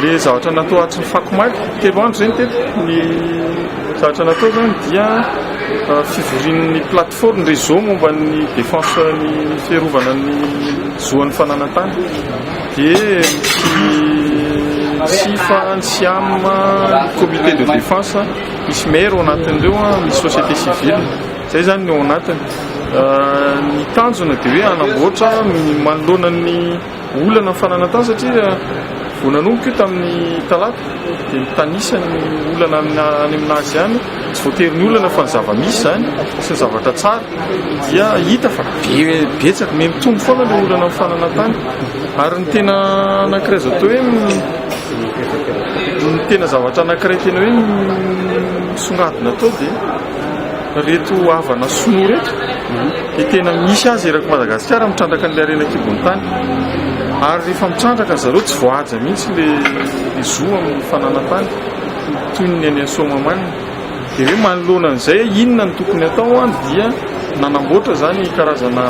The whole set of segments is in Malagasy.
Ilay zavatra natao hatry ny fako maika, telo andro izay ny teto. Ny zavatra natao izany dia ah, fivorian'ny plateforme réseau momba ny défense ny fiarovana ny zoan'ny fananantany. Dia ny SIFA, ny SIAM, ny comité de défense, misy maire ao anatin'ireo, ah, misy société civile. Izay izany ny ao anatiny. Ny tanjona dia hoe hanamboatra manoloana ny olana ny fananantany satria vao nanomboka io tamin'ny talata dia mitanisa ny olana any amina azy any tsy voatery ny olana fa ny zava-misy izany sy ny zavatra tsara dia hita fa betsaka me mitombo foana ilay olana ny fananantany ary ny tena anankiray azo atao hoe ny tena zavatra anankiray tena hoe misongadina atao dia Ireto havana sinoa ireto dia tena misy azy eraky Madagasikara mitrandraka an'ilay harena an-kibon'ny tany. Ary rehefa mitrandraka ry zareo tsy voahaja mihitsy ilay zo amin'ny fananan-tany toy ny any Soamahamanina. Dia hoe manoloana an'izay inona no tokony hatao dia nanamboatra izany karazana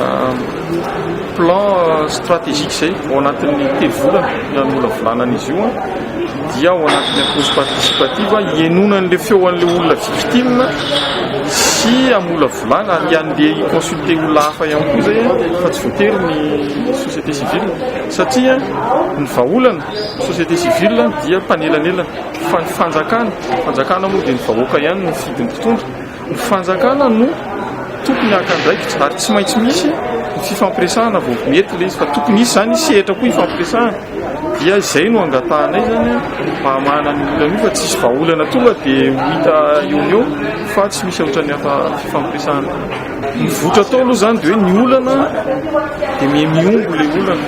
plan stratégique izay ao anatin'ny telo volana nanolavolana an'izy io. dia ao anatin'ny approche participative hihainoana an'ilay feo an'ilay olona victime sy hamolavolana ary handeha hi-consulter olona hafa ihany koa izay fa tsy voatery ny société civile satria ny vahaolana ny société civile dia mpanelanelana fa ny fanjakana, fanjakana moa dia ny vahoaka ihany no fidin'ny mpitondra Ny fanjakana no tokony haka andraikitra ary tsy maintsy misy ny fifampiresahana vao mety ilay izy fa tokony hisy izany sehatra koa hifampiresahana dia izay no angatahanay izany mba hamahana an'io olana io fa tsisy vahaolana tonga dia ho hita eo no eo fa tsy misy ohatran'ny hafa fifampiresahana mivoitra tao aloha izany dia hoe ny olana dia miha mihombo ilay olana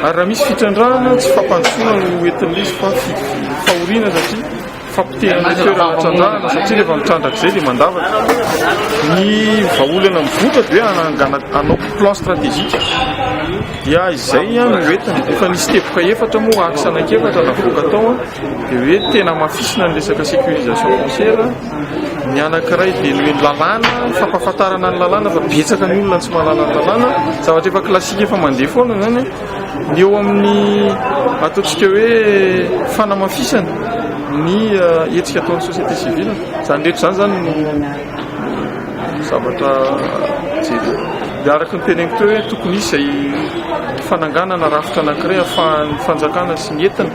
ary raha misy fitrandrahana tsy fampandrosoana no ho entin'izy fa fahoriana satria Fampotehana ny toerana trandrahana satria rehefa mitrandraka izay dia mandavaka. Ny vahaolana mivoitra dia hoe hanangana hanao plan stratégique dia izay no entiny. Efa nisy teboka efatra moa axe anankiefatra navoaka tao dia hoe tena hamafisina ny resaka sécurisation foncière. Ny anankiray dia ny hoe lalàna, fampahafantarana ny lalàna fa betsaka ny olona no tsy mahalala ny lalàna. Zavatra efa classique efa mandeha foana izany. Ny eo amin'ny ataontsika hoe fanamafisana ny hetsika ataon'ny société civile, izany rehetra izany izany no zavatra jerena. Dia araka ny teneniko teo hoe tokony hisy izay fananganana rafitra anankiray ahafahan'ny fanjakana sy ny entina,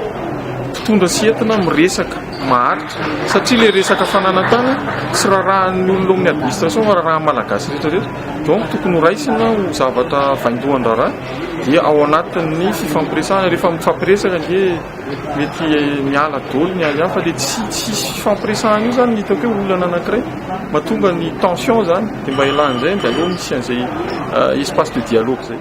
mpitondra sy entina miresaka maharitra satria ilay resaka fananantany tsy rarahan'ny olona ao amin'ny administration fa rarahan'ny Malagasy rehetra rehetra. Donc tokony ho raisina ho zavatra vaindohan-draharaha. Dia ao anatin'ny fifampiresahana, rehefa mifampiresaka dia mety miala daholo ny ahiahy fa dia tsy tsy hisy fifampiresahana io zany ny hitako hoe olana anankiray mahatonga ny tension zany dia mba ialana an'izay dia aleo misy an'izay espace de dialogue zay.